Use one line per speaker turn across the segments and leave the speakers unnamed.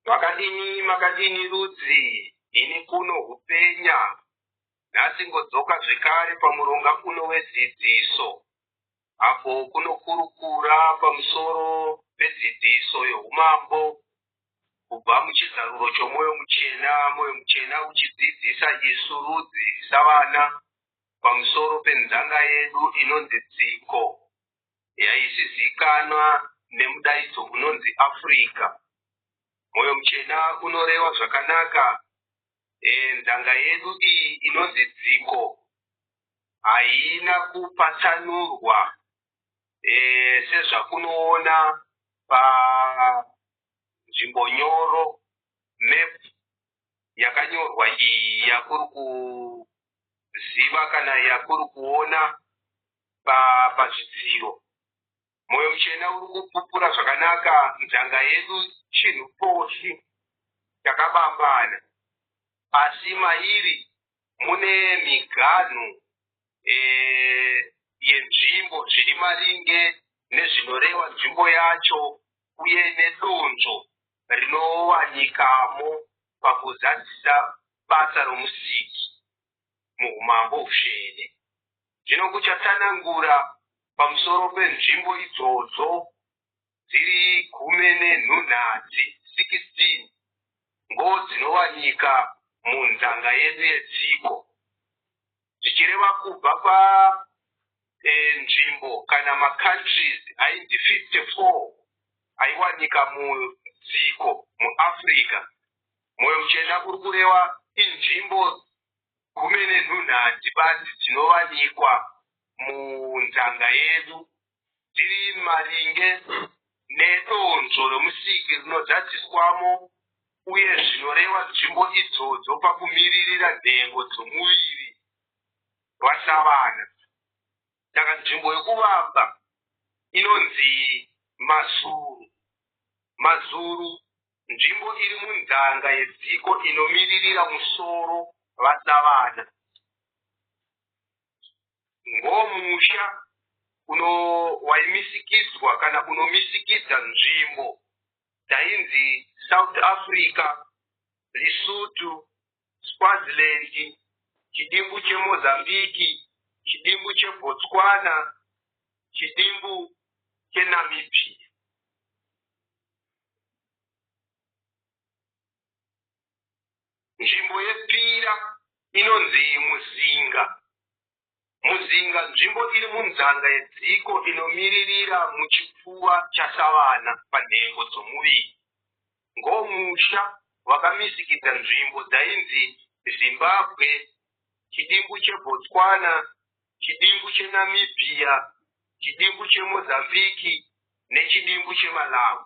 Makadini makadini rudzi ini kuno hupenya nhasi ngodzoka zvekare pamuronga uno wedzidziso apo kunokurukura pamusoro pedzidziso youmambo kubva muchizaruro chomwoyo muchena mwoyo muchena uchidzidzisa isu rudzi savana pamusoro penzanga yedu inonzi dziko yaizivikanwa nemudaidzo unonzi Africa. Moyo muchena unoreva zvakanaka eh, nzanga yedu iyi inonzi dziko haina kupatsanurwa eh, sezvakunoona panzvimbo nyoro map yakanyorwa iyi yakuri kuziva kana yakuri kuona pazvidziro pa moyo muchena uri kupupura zvakanaka nzanga yedu chinhu poshi takabambana asi mairi mune miganhu e, yenzvimbo zviri maringe nezvinoreva nzvimbo yacho uye nedonzvo rinowanikamo pakuzadzisa basa roMusiki muHumambo Husvene. Zvino kuchatsanangura pamusoro penzvimbo idzodzo dziri gume nenhunhadzi, 16, ngo dzinowanika munzanga yedu yetsiko. zvichireva kubva pa eh, nzvimbo eh, kana macountries aindi 54 aiwanika mudziko muafrica moyo muchena kuri kurewa inzvimbo gumi nenhunhati basi dzinowanikwa munzanga yedu tiri maringe nedonzvo romusiki rinozadziswamo uye zvinoreva nzvimbo idzodzo pakumiririra nhengo dzomuviri rwaSavana. Saka nzvimbo yokuvamba inonzi mazuru. Mazuru nzvimbo iri munzanga yedziko inomiririra musoro vaSavana. Ngo musha uno waimisikidzwa kana kunomisikidza nzvimbo dzainzi South Africa, Lesotho, Swaziland, chidimbu cheMozambique, chidimbu cheBotswana, chidimbu cheNamibia. Nzvimbo yepira inonzi muzinga. Muzinga nzvimbo iri munzanga yedziko inomiririra muchipfuva chasavana panhengo dzomuviri. Ngomusha wakamisikidza nzvimbo dzainzi Zimbabwe, chidimbu cheBotswana, chidimbu cheNamibia, chidimbu cheMozambique nechidimbu cheMalawi.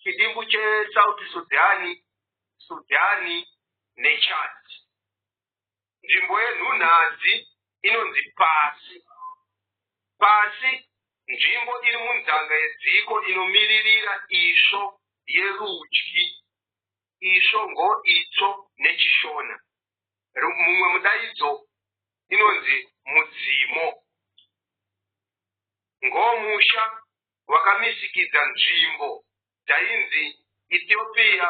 chidimbu chesouth sudhani sudhani nechad nzvimbo yenhunhadzi inonzi pasi pasi nzvimbo iri munzanga yedziko inomiririra isvo yerudyi isvo ngoitsvo nechishona mumwe mudaidzo inonzi mudzimo ngomusha wakamisikidza nzvimbo dzainzi Ethiopia,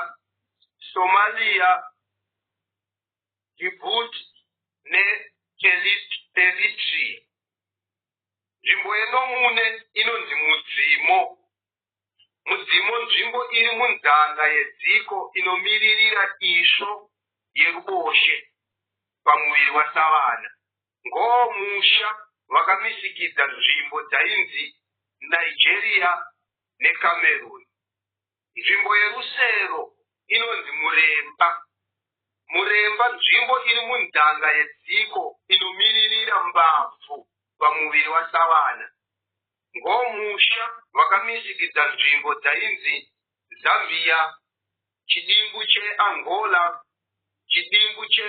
Somalia, Djibouti neEritrea. Nzvimbo yeNomune inonzi Mudzimo. Mudzimo nzvimbo iri munzanga yedziko inomiririra isvo yeruboshwe pamuviri wasavana. Ngoo musha vakamisikidza nzvimbo dzainzi Nigeria neCameroon. Nzvimbo yerusero inonzi Muremba. Muremba nzvimbo iri munzanga yedziko inomiririra mbabvu pamuviri wasavana. Ngoo musha vakamisikidza nzvimbo dzainzi Zambia, chidimbu cheAngola, chidimbu che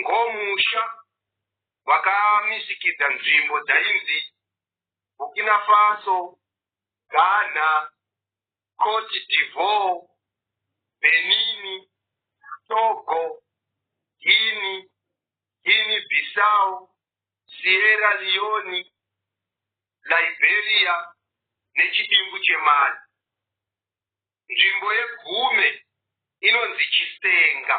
ngomusha wakamisikidza nzvimbo dzainzi Burkina Faso, Ghana, Cote d'Ivoire, Benin, Togo, Guinea, Guinea Bissau, Sierra Leone, Liberia nechidimbu cheMali. Nzvimbo yeGume inonzi Chisenga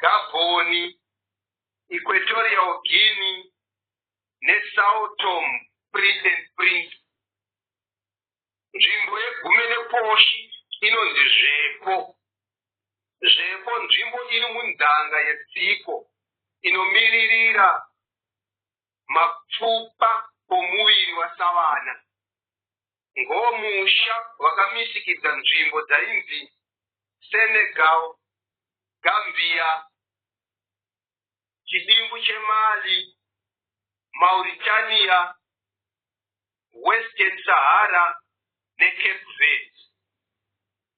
Gabhoni, Equatorial Guinea neSao Tome Prince and Prince. Nzvimbo yeGume neKoshi inonzi Zvepo. Zvepo nzvimbo iri munzanga yedziko inomiririra mapfupa omuviri wasavana. ngomusha wakamisikidza nzvimbo dzainzi Senegal, Gambia, chidimbu cheMali, Mauritania, Western Sahara neCape Verde.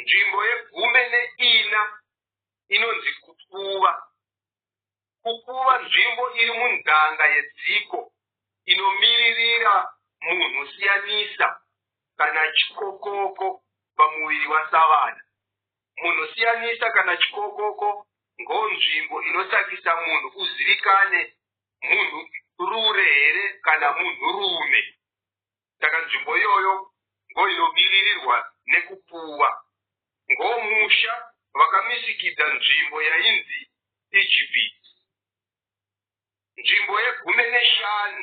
Nzvimbo yegume neina inonzi kukuva. Kukuva nzvimbo iri munzanga yedziko inomiririra munhu siyanisa kana chikokoko pamuviri wasavana. Munhu siyanisa kana chikokoko ngo nzvimbo inosakisa munhu uzivikane munhu rure here kana munhu rume. Saka nzvimbo iyoyo ndoinobiririrwa nekupuwa. Ngomusha vakamisikidza nzvimbo yainzi Ijipiti. Nzvimbo yegumi neshanu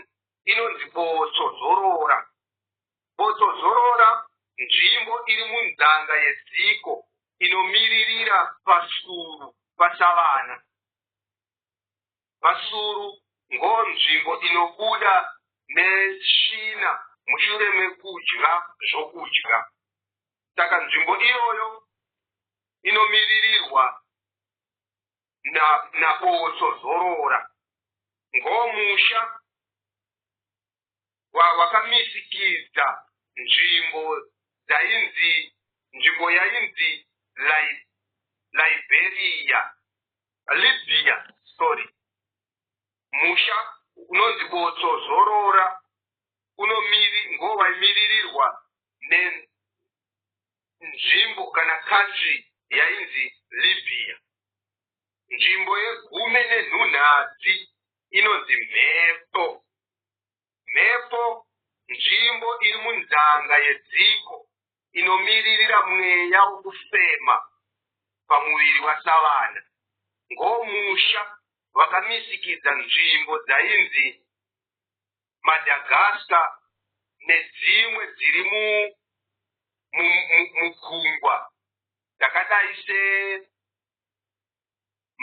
inonzi Botsozorora. Botsozorora nzvimbo iri munzanga yedziko inomiririra pasuru pasavana. Vasuru ngo nzvimbo inobuda ne tsvina mushure mekudya zvokudya saka nzvimbo iyoyo inomiririrwa na na Botso zorora ngo musha wakamizikidza wa nzvimbo dzainzi nzvimbo yainzi liberia libya sorry musha unonzi botso zorora ngovaimiririrwa nenzvimbo kana country yainzi libya Nzvimbo yegumi nenhunhadzi inonzi mhepo. Mhepo nzvimbo iri munzanga yedziko inomiririra mweya wokufema pamuviri wasavana. Ngomusha vakamisikidza nzvimbo dzainzi Madagascar nedzimwe dziri mugungwa dzakadai se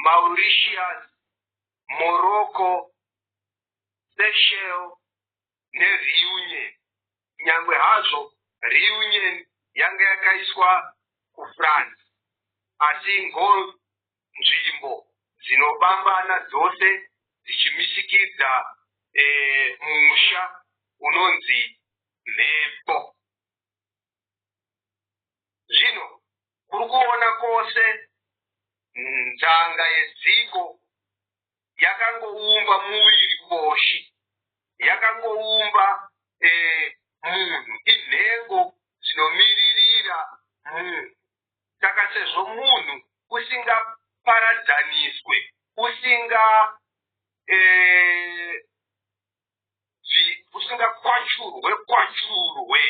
Mauritius, Morocco, Seychelles neReunion, kunyangwe hazvo Reunion yanga yakaiswa kuFrance asi ngozi nzvimbo dzinobambana dzose dzichimisikidza musha unonzi mhepo. zvino kuri kuona kwose nzanga yedziko yakangoumba muviri koshi yakangoumba eh, munhu inhengo dzinomiririra munhu saka sezvo munhu usingaparadzaniswe usinga eh, kuti usingakwachurwe kwachurwe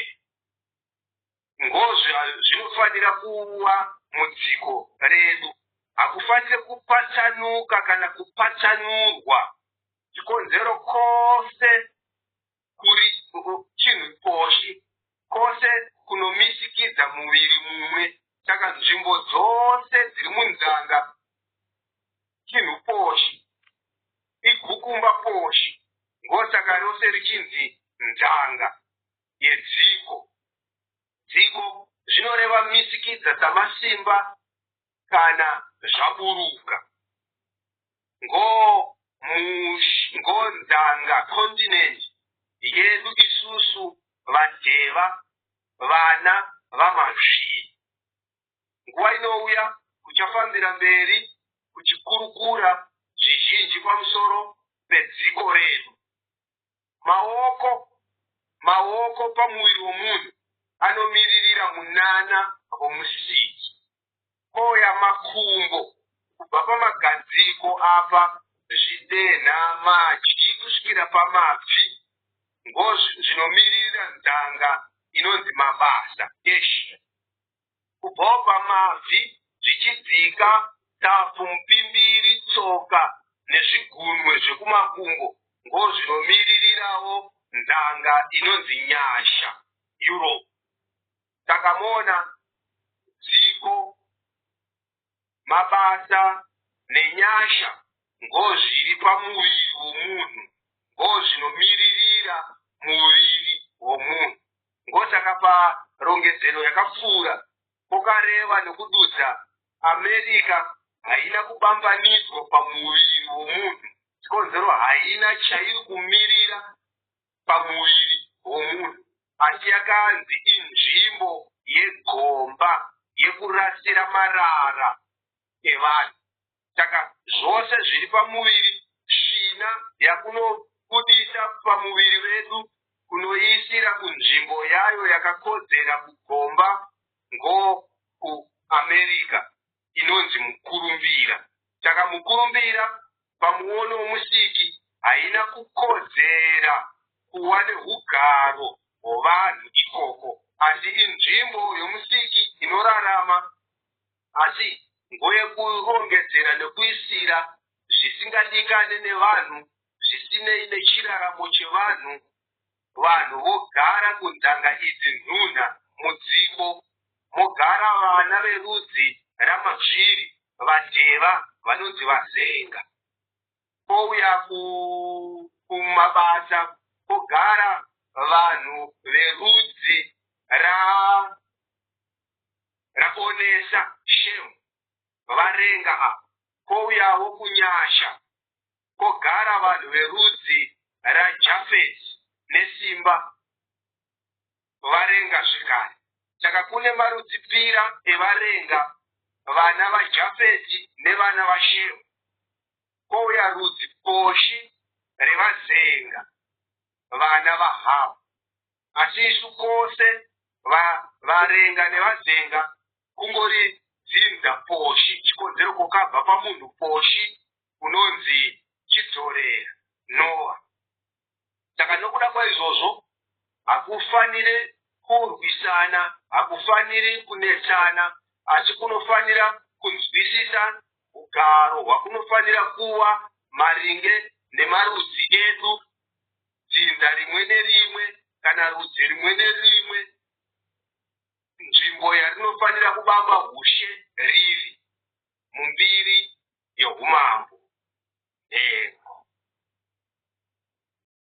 ngozve zvinofanira kuwa mudziko redu hakufanire kupatsanuka kana kupatsanurwa chikonzero kose kuri chinhu poshi kose kunomisikidza muviri mumwe saka nzvimbo dzose dziri munzanga chinhu poshi igukumba poshi ngosaka rose richinzi nzanga yedziko. Dziko zvinoreva misikidza dzamasimba kana zvaburuka. Ngo mush ngo nzanga continent yedu isusu vadheva vana vamazvii. Nguva inouya kuchafambira mberi kuchikurukura zvizhinji pamusoro pedziko redu. Maoko maoko pamuviri womunhu anomiririra munana voMusiki. Koya makumbo kubva pamagadziko apa zvidenha madyi kusvikira pamabvi ngo zvinomiririra nzanga inonzi mabasa. Eshe. kubhobha mabvi zvichidzika tapfu mupimbiri tsoka nezvigunwe zvekumakumbo ngozvinomiririrawo nzanga inonzi nyasha europe takamona dziko mabasa nenyasha ngozviri pamuviri womunhu ngozvinomiririra muviri womunhu ngosaka parongedzero yakapfuura pokareva nokududza America haina kubambanidzwa pamuviri womunhu chikonzero haina chairi kumirira pamuviri womunhu. Asi yakanzi inzvimbo yegomba yekurasira marara evanhu. Saka zvose zviri pamuviri, svina yakunobudisa pamuviri vedu kunoiisira kunzvimbo yayo yakakodzera kugomba ngoku America. inonzi mukurumbira. Saka mukurumbira pamuono woMusiki haina kukodzera kuva nehugaro hwovanhu ikoko asi inzvimbo yoMusiki inorarama asi ngoyokurongedzera nokuisira zvisingadikane nevanhu zvisinei nechiraramo chevanhu Vanhu vogara kunzanga idzi nhunha mudziko mogara vana verudzi ramapshiri vadeva vanonzi vazenga pouya kumabasa pogara vanhu verudzi ra raonesa shame varenga apa pouyawo kunyasha kwogara vanhu verudzi raJafeti nesimba, varenga zvekare. Saka kune marudzi pira evarenga, vana vaJafeti nevana vaShemu, kwouya rudzi poshi revazenga, vana vaHamu. Asi isu kose va, varenga nevazenga, kungori dzinza poshi, chikonzero kwokabva pamunhu poshi, unonzi Chidzorera, Noah. Saka nokuda kwaizvozvo, hakufanire kurwisana, hakufaniri kunetsana, asi kunofanira kunzwisisa ugaro hwakunofanira kuva maringe nemarudzi edu, dzinza rimwe nerimwe kana rudzi rimwe nerimwe, nzvimbo yarinofanira kubamba hushe riri. mumbiri youmambo, nhengo.